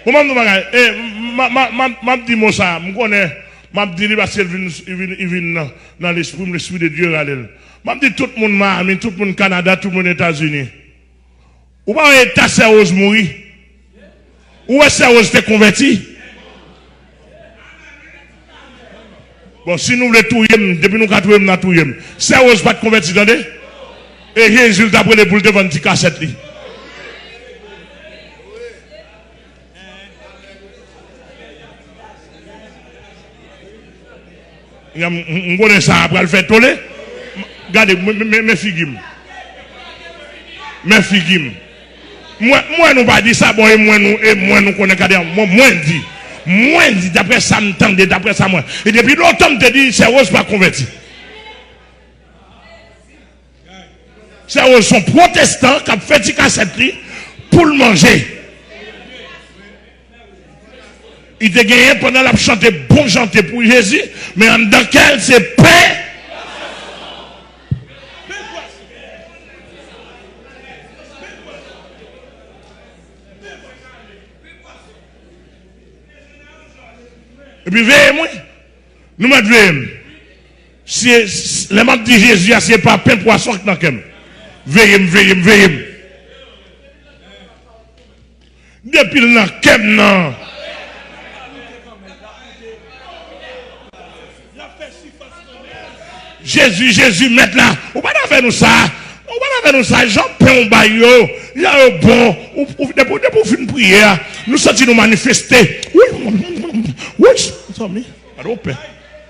Bon banm di w bagay e m ap di mo sa m konnen m ap di li paske li vin nan lespri m lespri de Dye rale l m ap di tout moun Miami tout moun Canada tout moun Etazini ou pa wè eta sè Rose mouri ou wè sè Rose te konvèti Bon si nou vle touyem depi nou ka touyem nan touyem sè rose pat konvèti tande e jezi l tap rele poul te vann ti kasèt li. M konnen sa a pral fè tole. Gade men figi m. Men figi m. M wè nou pa di sa bon e mwen nou e mwen nou konnen kade an mwen di. Mwen di daprè sa m tande daprè sa mwen. E depi lontan m te di sè Rose pa konvèti. Sa yo son protestan kap fè ti kasèt li poul manje. Li te genyen pandan lap chante bon chante pou Jezi men anndan kèl se pen. Epi veye mwen. Nou mèt veye m. Se Lè map di Jezi a se pa pen pwason k nan kèm Veyem veyem veyem Depil nan kèm nan. Jezi jezi mèt la ou pa ta fè nou sa ou pa ta fè nou sa jan pen ou bay yo jan yo bon depi ou fin priye a nou santi nou manifeste wouyy wouyy zanmi gade yon pen.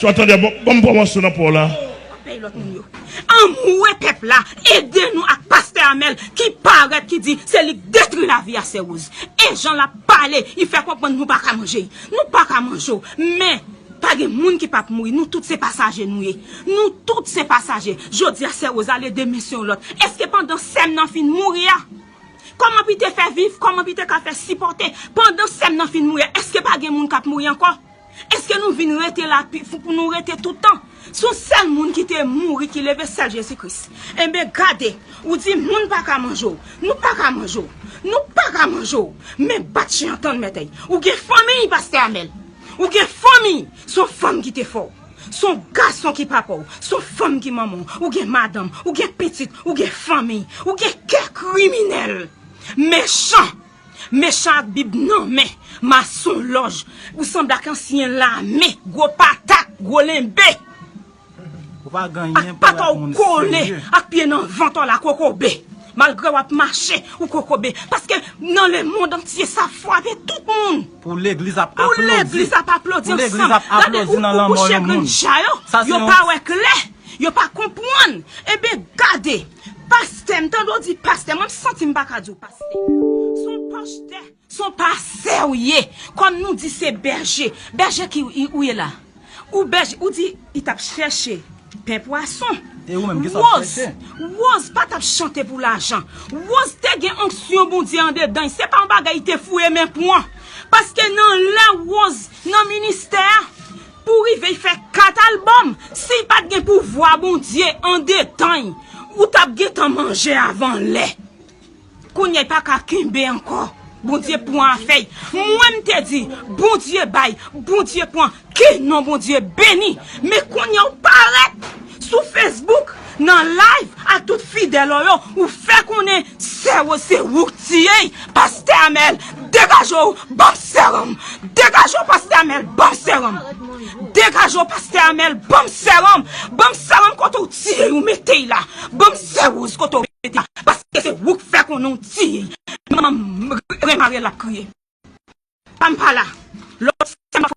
Swa tande bon banm pran mòso nan paw la. Pey lot moun yo. Anmwee pep la ede nou ak paste amel ki paret ki di se li k detri lavi a sè rose e jan lap pale li fè konprann nou paka manje y nou paka manje w men pa gen moun ki pap mouri nou tout se pasaje nou ye nou tout se pasaje jodi a sè rose al ede men se yon lot eske pandan sèm nan fin mouri a koman pi te fè viv koman pi te ka fè sipote pandan sèm nan fin mouri a eske pa gen moun kap mouri anko. Eske nou vin rete la pi fou pou nou rete tout tan? Si yon sèl moun ki te mouri ki leve sèl Jezi Kris. Enben gade, ou di moun pa ka manje w, nou pa ka manje w, nou pa ka manje w, men bat chen an tann mètèy. Ou gen fanmiy pastè Amel, ou gen fanmiy, se yon fanm ki te fè w, se yon gason ki papa w, se yon fanm ki manman w, ou gen madanm, ou gen pitit, ou gen fanmiy, ou gen kè kriminèl, mechan. Mechan ak bib nan men, mason lòj, ou sanble ak ansyen lame, gwo patat, gwo lenbe, ak pata ou kole, ak pye nan vant ou ala kokobe, malgre wap mache ou kokobe, paske nan le mond antye sa fwape tout moun, pou legliz ap aplodi ansanm, gade ou koukou chegren dja yo, yo pa wè klè, yo pa konpwann, e ben gade. Pastè, m tande w di pastè, mwen m santi m pa ka di w pastè. S on pashtè, s on pastè w ye. Kòm nou di se bèje. Bèje ki ou ye la? Ou bèje, ou di li t ap chèche pen pwason. E ou menm, kisa w ap chèche? Woz, Woz pa t ap chante pou lajan. Woz te gen onksyon Bondye andedan l. Se pa yon bagay li te fouye men pran. Paske nan lè Woz nan ministè a, Pou rive fè 4 album si pat gen pouvwa Bondye andetany ou tap gentan manje avan lè kounya y paka kenbe ankò Bondye pwan afèy mwen m te di Bondye bay Bondye pwan ke non Bondye beni men kounya w parèt Sou Facebook nan live ak tout fidèl ou yo ou fè konnen sè ou se ouk tiyey pastè amèl degaje w banm sèranm degaje w pastè amèl banm sèranm degaje w pastè amèl banm sèranm banm sèranm kote w tiyey ou metey la banm sè woz kote w metey la paske se ouk fè konnen w tiyey manman remarel ap kriye banm pala lòt sèm ap fò.